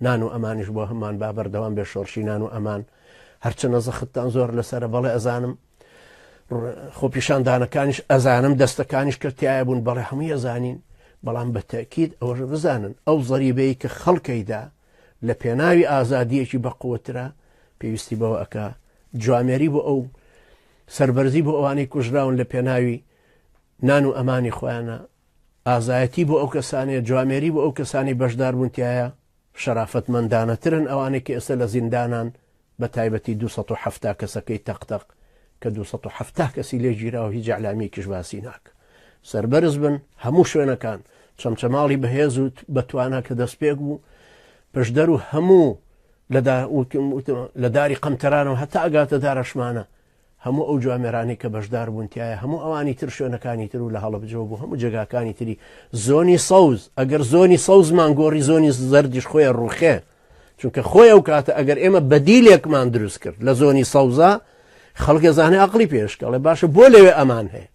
نان و ئەمانیش بۆ هەمان با بەردەوام بێ شۆرشی نان و ئەمان هەرچەنە زەختتان زۆر لەسەر بەڵێ ئەزانم خۆپیشاندانەکانیش ئەزانم دەستەکانیش کە تایە بوون بەڵێ هەموو ئەزانین بەڵام بە تەکیید ئەوەش بزانن ئەو زەریبەیە کە خەڵکەیدا لە پێناوی ئازادیەکی بەقوترە پێویستی بەوە ئەک جوامێری بۆ ئەو سربەرزی بۆ ئەوانەی کوژراون لە پێناوی نان و ئەمانی خۆیانە ئازایەتی بۆ ئەو کەسانەیە، جوامێری بۆ ئەو کەسانەی بەشداربوون تیایا، شەرافەتمەندانەترن ئەوانەی کە ئێستا لە زیندانان، بە تایبەتی دوو سەد و حەفتا کەسەکەی تەق تەق، کە دوو سەد و حەفتا کەسی لێ گیراوە هیچ ئیعلامییەکیش باسی ناکا. سەربەرز بن هەموو شوێنەکان، چەمچەماڵی بەهێز و بە توانا کە دەستپێک بوو، پشدەر و هەموو لە داری قەمتەرانەوە هەتا ئەگاتە دارەشمانە، هەموو ئەو جوامێرانەی کە بەشدار بوون تایە هەموو ئەوانی تر شوێنەکانی تر و لە هەڵەبجەوە بۆ هەموو جێگاکانی تری زۆنی سەوز ئەگەر زۆنی سەوزمان گۆڕی زۆنی زەردیش خۆیان ڕوخێ چونکە خۆی ئەو کاتە ئەگەر ئێمە بەدیلێکمان دروست کرد لە زۆنی سەوزە خەڵکە زانێ ئەقلی پێشکەڵێ باشە بۆ لەوێ ئەمان هەیە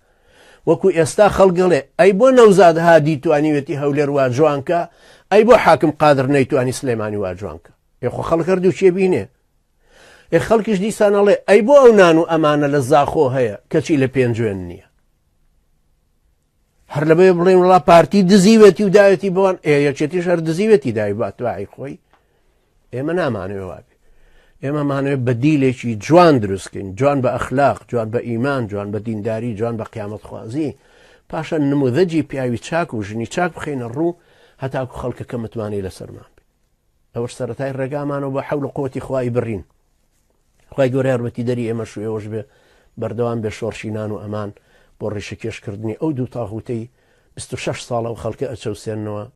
وەکو ئێستا خەڵگەڵێ ئەی بۆ نەوزاد هادی توانیوێتی هەولێر وا جوانکە ئەی بۆ حاکم قادر نەیتوانی سلێمانی وا جوانکە یخۆ خەڵکەر دووچێ بینێ ئێ خەڵکیش دیسان ئەڵێ ئەی بۆ ئەو نان و ئەمانە لە زاخۆ هەیە کەچی لە پێنجوێن نییە هەر لەبێ بڵێن وڵا پارتی دزیوێتی و داوێتی بۆن ئێ یەکێتی شەر دزیوێتی دای باتوای خۆی ئێمە نامانوێ وابێ ئێمە مانوێت بە دیلێکی جوان دروستکەین جوان بە ئەخلاق جوان بە ئیمان جوان بە دینداری جوان بە قیامەت خوازی پاشە نمودەجی پیاوی چاک و ژنی چاک بخینە ڕوو هەتاکو خەڵکەکە متمانەی لەسەرمان ئەوەش سەرەتای ڕێگامانەوە بە حەول قوتی خوای بڕین خی گەۆر یارمەتی دەری ئێمەش و ئێوەش بێ بەردەوام بێ شۆڕشی نان و ئەمان بۆ ڕیشەکێشکردنی ئەو دوو تاغوتەی 26 ساڵە و خەڵکە ئەچەوسێنەوە